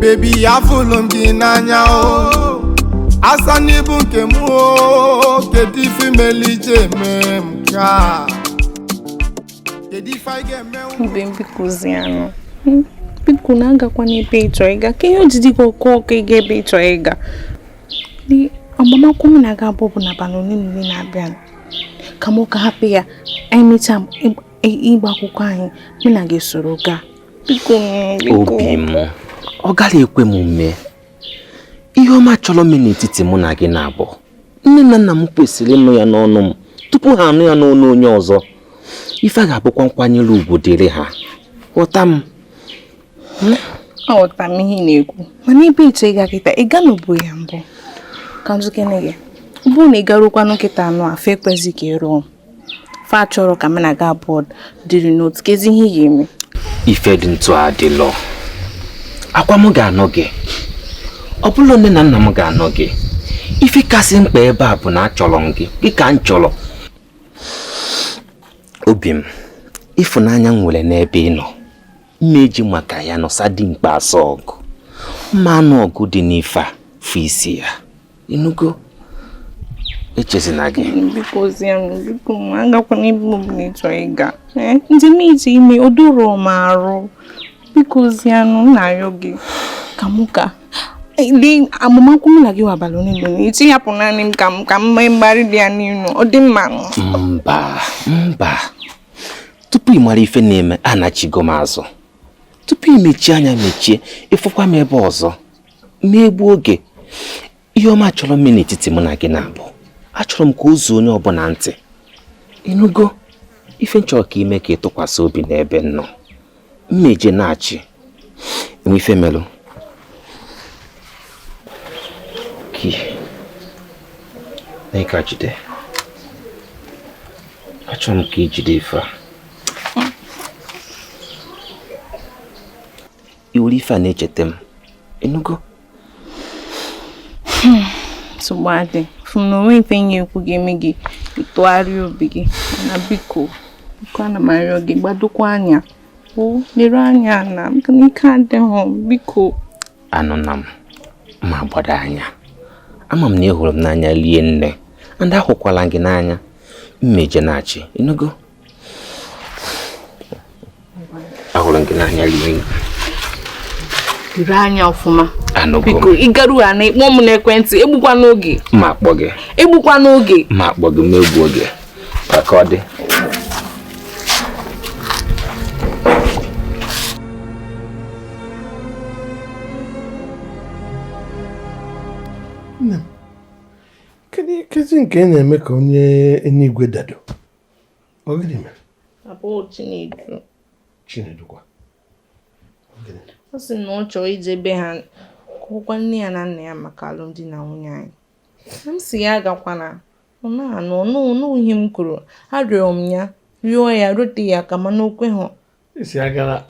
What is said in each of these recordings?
bebi afụlụ m gị n'anya o asa na ị bụ nke m o kedu ife melụ i ji eme m ka kedu ife anyị ga-eme obi m bikozianụ Hmm, biko nna agakwana ebe ị chọ ịga kee ihe o ji dị gị ọkụ ọkụ ịga ebe ị chọ ịga Ni- agbamakwụkwọ m na gị abụọ bụ n'abalị ole na ole na-abịa ka m ka hapụ ya anyị mechaa ịgba akwụkwọ anyị mụ na gị soro gaa biko obi m ọ gaghị ekwe m mee ihe ọma chọrọ ime n'etiti mụ na gị n'abụọ nne na nna m kwesịrị ịnụ ya n'ọnụ m tupu ha anụ ya n'ọnụ onye ọzọ ife a ga-abụkwa nkwanyere ugwu dịrị ha ghọta m aghọta m ihe ị na-ekwu mana ebe ị chọ ịga kịta ị ga n'obo ya mbụ ka nzukene gị bụrụ na ị garukwanụ kịta anụ afọ ekwezi ka ị lụọ fa achọrọ ka m na gị abụọ dịrị n'otu kezi ihe ị ga-eme ife dị etu a adịlọ ọ kwa m ga-anụ gị ọ bụlọ nne na nna m ga-anụ gị ife kasị mkpa ebe a bụ na achọrọ m gị gị ka m chọrọ obi m ịfụnanya m nwere n'ebe ị nọ m ma eji maka ya nọsa dimkpa asọ ọgụ m ma anụ ọgụ dị n'ife a fụ isi ya ịnụgo echezina gị bikozie m biko m agakwana ebe ọbụla ị chọrọ ịga eh, ndị m iji ime o doro m arụ bikozienụ na-ayọ gị ka mụ ka dị agbamakwụkwọ mụ na gị abalị ole na ole ị chọ ịhapụ naanị m ka m ka m mee mgbarị dị ya niine ọ dị mma mba mba tupu ị mara ife na-eme anachigo m azụ tupu ị mechie anya mechie ị fụkwa m ebe a ọzọ m ma egbu oge ihe ọma chọrọ ime n'etiti mụ na gị n'abụọ achọrọ m ka o zuo onye ọbụla ntị ịnụgo ife m chọrọ ka i mee ka ị tụkwasị obi n'ebe m nọ Mmejinachi enwe ife melụ na ị ka jide achọrọ m ka i jide ife a i were ife a na-echeta m ịnụgo hmm, nsogbu adị fụ na o nwe ife onye ekwu ga-eme ka ị tụgharịa obi gị nna biko biko ana m arịọ gị gbadokwa anya o lere anya na maka na ike adịghị biko anụna m ma gbado anya ama m na ị hụrụ m n'anya rie nne ndị ahụkwala gị n'anya Mmejinachi ịnụgo ahụrụ m gị n'anya rie nri jiri anya ọfụma biko ị garu hụ na ị kpọ m n'ekwentị egbukwana oge m ga-akpọ gị egbukwana oge m ga-akpọ gị ma egbu oge ka ọ dị nne m kezi nke ị na-eme ka onye enigwe dado Ọ gịnị mere? Papa ọ Chinedu. Chinedu kwa. Ọ sị na ọ chọrọ ije be ha gwakwa nne ya na nna ya maka alụmdi na nwunye anyị. M sị ya agakwana. Ọ na-anụ ihe m kwuru. Arịọrọ m ya rịọ ya rote ya aka mana o kweghị. Isi agara.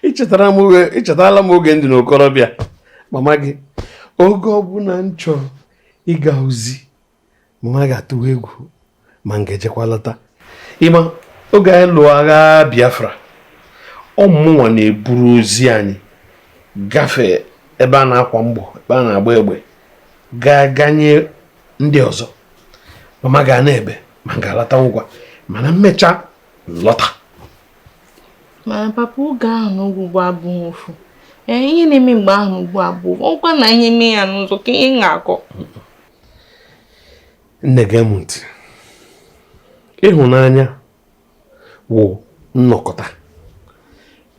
I chetarala m oge m dị n'okorobịa mama gị oge ọbụla m chọrọ ịga ozi mama gị atụwa egwu ma m ga-ejekwa lọta ị ma oge anyị lụọ agha Biafra ọ mụnwa na-eburu ozi anyị gafee ebe a na-akwa mgbọ ebe a na-agba egbe gaa ga nye ndị ọzọ mama gị ana-ebe ma m ga-alata ngwa mana m mechaa lọta mana papa oge ahụ na ugbu a abụghị ofu ee ihe na-eme mgbe ahụ ugbu a ọ bụkwa na ihe mee ya n'ụzọ kee ihe m ga-akọ nne gee m ntị ịhụnanya wụ nnọkọta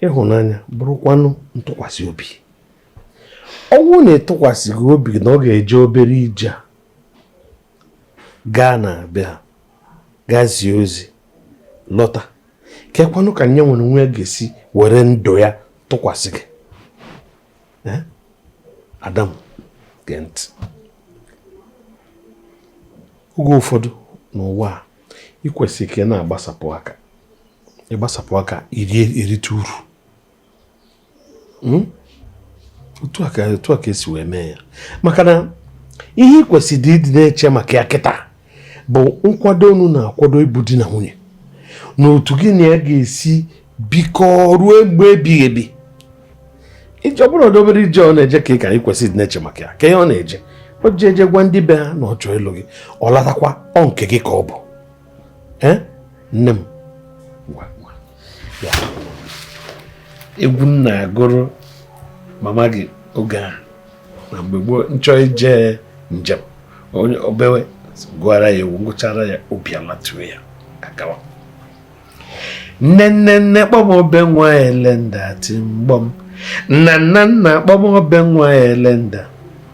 ịhụnanya bụrụkwanụ ntụkwasị obi ọ bụrụ na ị tụkwasịghị ya obi na ọ ga-eje obere ije a gaa na abịa gaa zie ozi lọta kekwanụ ka yanwa onwe ya ga-esi were ndụ ya tụkwasị gị eh? ada m gee ntị oge ụfọdụ n'ụwa a ị kwesịrị ka ị na-agbasapụ aka ị gbasapụ aka i rite uru hmm? otu a ka e si wee mee ya maka na ihe ị kwesịrị ịdị na-eche maka ya kịta bụ nkwado unu na-akwado ịbụ di na nwunye na otu gị na ya ga-esi bikọ ruo mgbe ebighị ebi ije ọ bụrọ obere ije ọ na-eje ka ị ka ị kwesịrị na-eche maka ya ka ihe ọ na-eje o ji eje gwa ndị be ha na ọ chọọ ịlụ gị ọ latakwa ọ nke gị ka ọ bụ nne m egwu m na-agụrụ mama gị oge ahụ na mgbe gboo m chọọ ije njem o bewe m gụara ya egwu m gụchara ya obi alatuo ya agawa nne nne nne kpọ m obe nwa elenda ti mgbọm nna nna nna kpọ m obe nwa elenda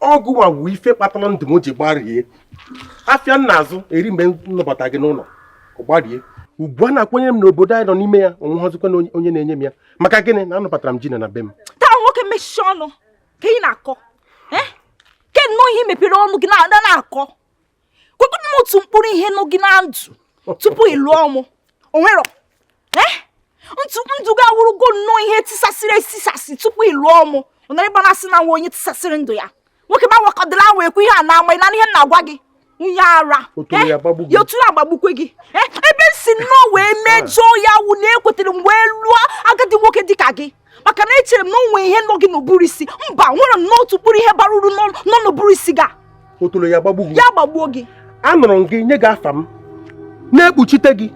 ọ gị nwa wụ ife kpatara ndụ m ji gbarie afịa m na-azụ eri mgbe m nụbata gị n'ụlọ gbarie ugwu a na-akwanyere m n'obodo anyị nọ n'ime ya onwehọzikwanụ onye na-enye m ya maka gịnị na anụbatara m Gina na be m taa nwoke mechie ọnụ ke ihe ị na-akọ ke nnọọ ihe i mepere ọnụ gị na-akọ kwupụtara m otu mkpụrụ ihe nọ gị na ndụ tupu ị lụọ mụ o nwerọ eh? ndụ gị awụrụgo nnọọ ihe tisasịrị etisasị tupu ị lụọ mụ ọ nọrọ ebe a na-asị na m wụ onye tisasịrị ndụ ya nwoke m anwakwadịla wee kwu ihe a na-ama ị na ihe m na-agwa gị onye ara eh? ya otoro ya gbagbukwe gị eh? ebe m si nnọọ wee mejọọ ya wụ na ekwetere m wee lụọ agadi nwoke dịka gị maka na echere m na o nwe ihe nọ gị n'ụbụrụ isi mba nwere m n'otu mkpụrụ ihe bara uru nọ n'ụbụrụ isi gị otolo ya gbagbu gị ya gbagbuo gị anụrụ m gị nye gị afa m na-ekpuchite gị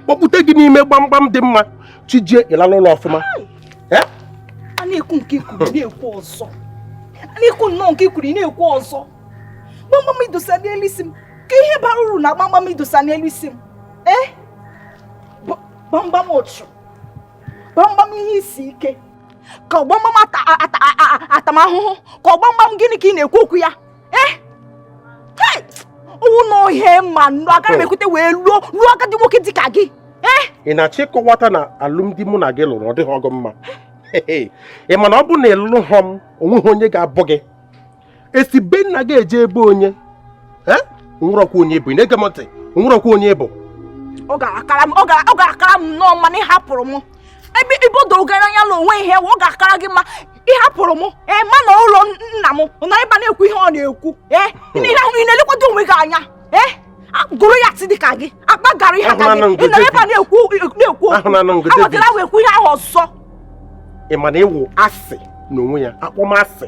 kpọpụte gị n'ime gbamgbam dị mma chijie ịlala ụlọ ọfụma a na-ekwu nke i kwuru na-ekwu ọzọ a na-ekwu nnọọ nke i kwuru na-ekwu ọzọ gbamgbam i dosa n'elu isi m ke ihe bara uru na gbamgbam i dosa n'elu isi m ee eh? gbamgbam ụchụ gbamgbam ihe isi ike ka ọ gbamgbam ata m ahụhụ ka ọ gbamgbam gịnị ka ị na-ekwu okwu ya eh? ọ wụ na ọ ihe m ma nụ agaghị m oh. ekwete wee lụọ lụọ agadi nwoke dị ka gị eh? ị na-achọ ịkọwata na alụmdi mụ na gị lụrụ ọ dịhọ gị mma ị ma na ọ bụ na ị lụhọ m onweghị onye ga-abụ gị e si be nna gị eje be onye o nwerọkwa onye ị bụ ị na-ege m ntị o nwerọkwa onye ị bụ ọ ga-akara m ọ ga- ọ ga-akara m nnọọ mma na ị hapụrụ m ebe ibo doro gị anya na o nwe ihe ọ ga-akara gị mma ị hapụrụ m ee ma na ụlọ nna m nọ ebe a na-ekwu ihe ọ na-ekwu ee ị na- ị na- ị na-elekwado onwe gị anya ee a- Goliath dị ka gị akpa garị dị ka Ahụla na gị ngụ ị nọ ebe a David. na-ekwu na-ekwu Ahụla na ngụ David. awetara wee kwu ihe ahụ ọzọ ị ma na ị wụ asị n'onwe ya akpọmasị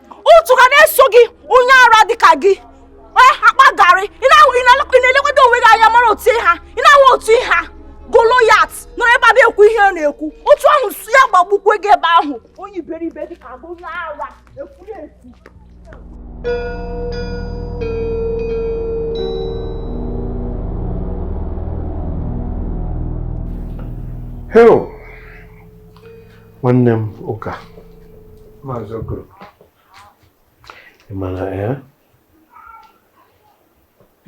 ụchụ ga na-eso gị onye ara dị ka gị onye akpa garị ị na-elekwado onwe gị anya mara otu ị ha ị na-ahụ otu ị ha Goliath nọrọ ebe a na-ekwu ihe ọ na-ekwu otu ahụ su ya gbagbukwe gị ebe ahụ onye iberibe dị ka onye ara ekwuru ekwu Hei. nwanne m ụka Maazị Okoro ị mara ya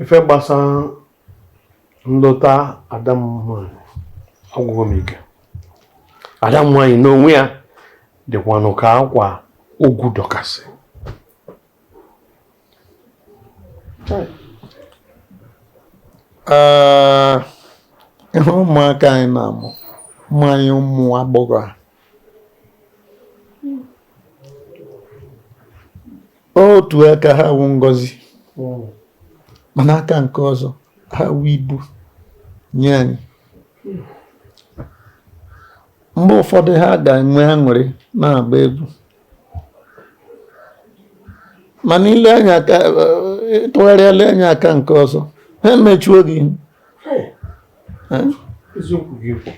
ife gbasara nlọta ada m nwanyị agwụgo m ike ada m nwanyị n'onwe ya dịkwanụ ka akwa ogwu dọkasị ịhụ ụmụaka anyị na-amụ ụmụ anyị ụmụ agbọghọ a otu aka ha wụ ngozi mana aka nke ọzọ ha wụ ibu nye anyị mgbe ụfọdụ ha ga-enwe aṅụrị na-agba egwu mana ile anya aka ị tụgharịa lee anya aka nke ọzọ ha emechuo gị ihu Eh? eziokwu gị ekwu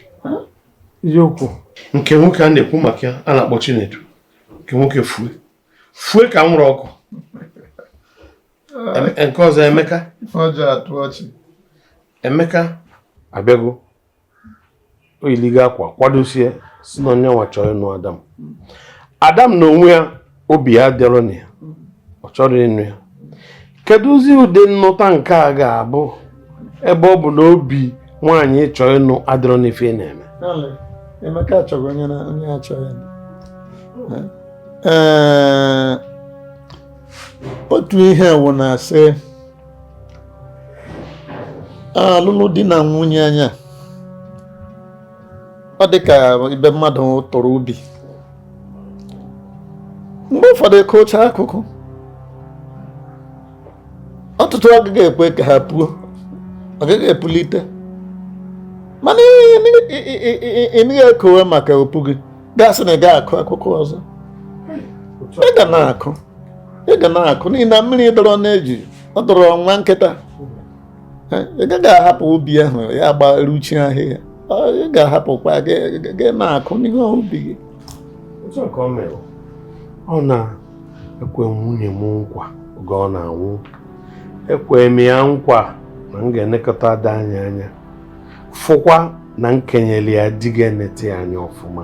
eziokwu nke nwoke a na-ekwu maka ya a na-akpọ Chinedu nke nwoke fue fue ka anwụrụ ọkụ Em- nke ọzọ Emeka ọjọọ atụ ọchị Emeka abịago o yiligo akwa kwadosie sị na ọ ya nwa chọrọ ịnụ ada m ada m na onwe ya obi ya adịrọ na ya ọ chọrọ ịnụ ya kedụzi ụdị nnụta nke a ga-abụ ebe ọ bụ na obi nwaanyị ị chọ ịnụ adịrọ n'ife ị na-eme Dale, Emeka achọghị onye na onye achọghị ya. Ee, otu ihe wụ na-asị alụlụ di na nwunye anya ọ dị ka ebe mmadụ tụrụ ubi mgbe ụfọdụ a kụchaa akụkụ ọtụtụ agaghị ekwe ka ha puo ọ gaghị epulite mana ị naghị ekowe maka o pughi gasị na ị gaghị akụ akụkụ ọzọ ị ga na-akụ ị ga na-akụ n'ihi na mmiri dọrọ n'eju ọ dọrọ nwa nkịta ị gaghị ahapụ ubi ahụ ya gbaruchi ahịhịa ị ga-ahapụkwa gị na-akụ n'ihe ubi gị ọ na-ekwe nwunye m nkwa oge ọ na-anwụ ekwe m ya nkwa na m ga-elekọta ada anyị anya fụkwa na m kenyeli ya di ga-enete ya anya ọfụma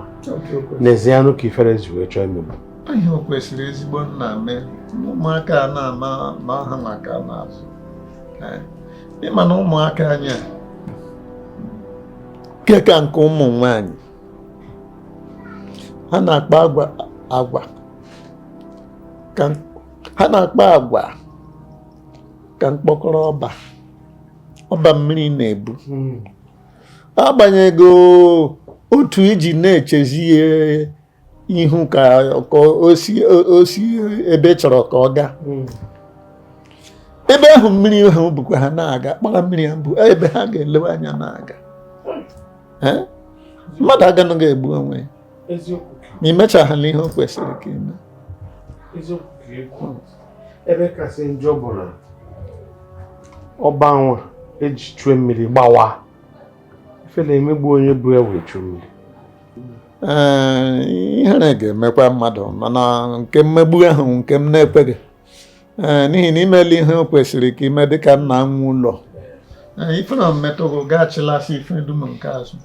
nezienụ ka ifere ji wee chọọ imegbu ihe o kwesịrị ezigbo nna mee ụmụaka a na-ama ma ha maka n'azụ eh, ịma na ụmụaka anyị a nke ka nke ụmụ nwanyị ha na-akpa agwa agwa ha na-akpa agwa ka mkpọkọrọ ọba ọba mmiri na-ebu hmm. agbanyeghị otu iji na-echezi ya ihu ka o si ebe ị chọrọ ka ọ gaa hmm. ebe ahụ mmiri ahụ bukwa ha na-aga kpara mmiri ahụ bụ ebe ha ga-elewe anya na-aga mmadụ aganaghị egbu onwe ya ma imechaghana ihe o kwesịrị ka ime ebe kasị njọ bụ na ọba nwa eji chue mmiri gbawa ifele emegbu onye bu ya wee chue mmiri ee ihere ga-emekwa mmadụ mana nke mmegbu ahụ nke m na-ekweghị ee n'ihi na imela ihe o kwesịrị ka ime dịka nna nwe ụlọ ifele metụrụ gaachịlasị ife dum nke azụ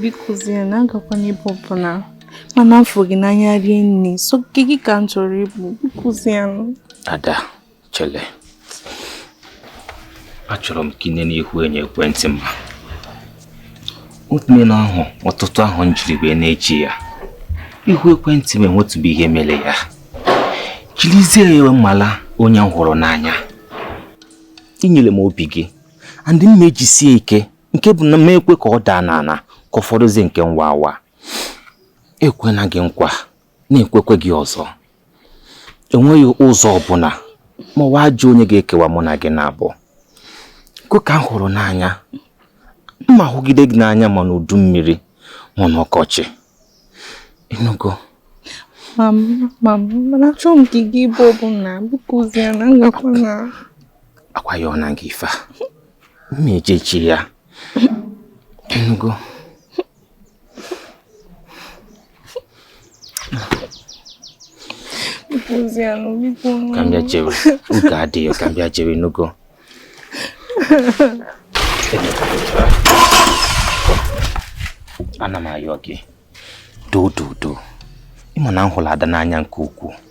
biko zie na agakwana ebe ọbụla mana m fụ gị n'anya rinne sọ gị ka m chọrọ ịbụ biko zie ada Chele, achọrọ m ka ị nene ihu enyo ekwentị m. Otume na ahụ ọtụtụ ahọ m jiri wee na-eji ya. Ihu ekwentị m enwetụbe ihe mere ya. Jirizie ya mala onye m hụrụ n'anya. Inyere m obi gị, and m na-ejisie ike nke bụ na m ekwe ka ọ daa n'ala ka ọ fọdụzie nke ịwa awa. Ekwena gị nkwa. na-ekwekwe gị ọzọ enweghị ụzọ ọbụla ma ọ wụ ajọ onye ga-ekewa mụ na gị na ọ bụ gị ka m hụrụ n'anya m ma-ahụgide gị n'anya ma n'udu mmiri ma n'ọkọchị ịnụgo mana achọghị m ka ị gaa ebe ọbụla biko zie na ngakwa na akwa ya ọ na gị ife a mma ejechi ya ịnụgo Ka m bịa jewe ụka Ada o ka m bịa jewe nụgo. Ana m ayọ gị doo doo doo ịma na m hụrụ ada n'anya nke ukwuu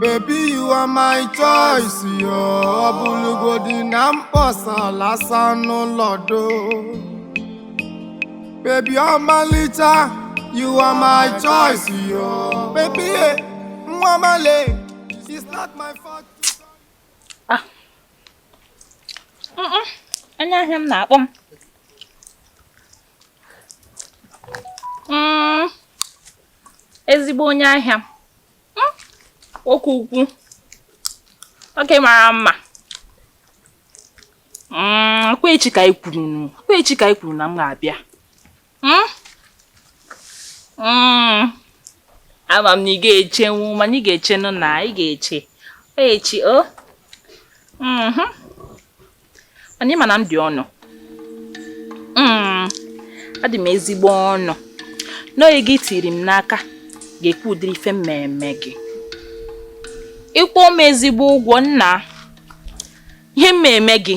Baby, you are my choice, yo. Ọ bụlụgodi na m kpọsala asa n'ụlọ do. Baby, ọmalịcha, you are my choice, yo. Baby, eh, nwa male, it's not my fault. Onye ahịa m na-akpọ m. Mm, Ezigbo onye ahịa m. oke ukwu oke mara mma mm, ọkwa echi ka anyị kwuru ọkwa echi ka anyị kwuru na m ga-abịa hmm? hmm. ama m na ị ga-echenwu mana ị ga-echenụ na ị ga-eche echi o oh. mhm. mana ị ma na m dị ọnụ hmm, adị m ezigbo ọnụ n'oge gị tiri m n'aka ga-ekwu ụdịrị ife mmemme gị ịkwụ m ezigbo ụgwọ nna ihe mmemme gị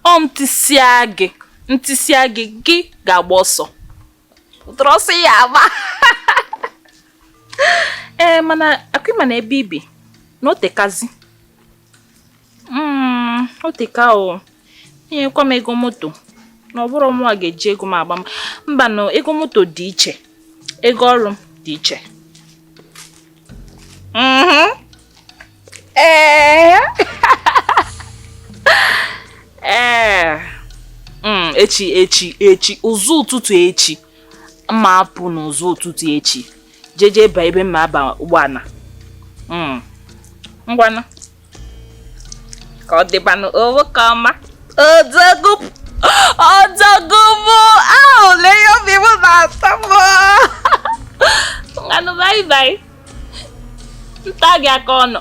ọ ntịsịa gị ntịsịa gị gị ga-agba ọsọ ụtọrọ ọsọ ya agba ee eh, mana ọ kwa ị ma na ebe i bi na o tekazi Mm, o teka o nyekwa m ego moto na ọ bụrọ mụnwa ga-eji ego m agba mbanụ ego moto dị iche ego ọrụ m dị iche mm-hmm. ee ee mm, echi echi echi ụzọ ụtụtụ echi m ma-apụ n'ụzọ ụtụtụ echi jeje ebe ebe m ma-aba ụgbọala hmm. ngwanụ ka ọ dịbanụ oo ka ọma odogwu odogwu bụ ahụ lee ya obi m na-atọ m ngwanụ bye bye nta gị aka ọnụ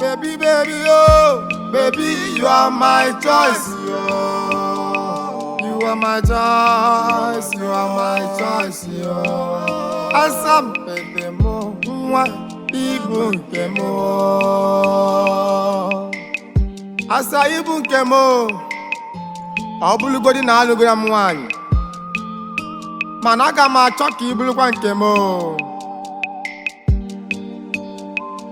Baby, baby, oh, baby, you are my choice, oh. You are my choice, you are my choice, oh. Asampete m, nwa ị bụ nke m, oh. Asa ị bụ nke m, oh. Ọ bụlụgodi na alụgoro m nwaanyị, mana aga m achọ ka ị bụrụkwa nke m, oh.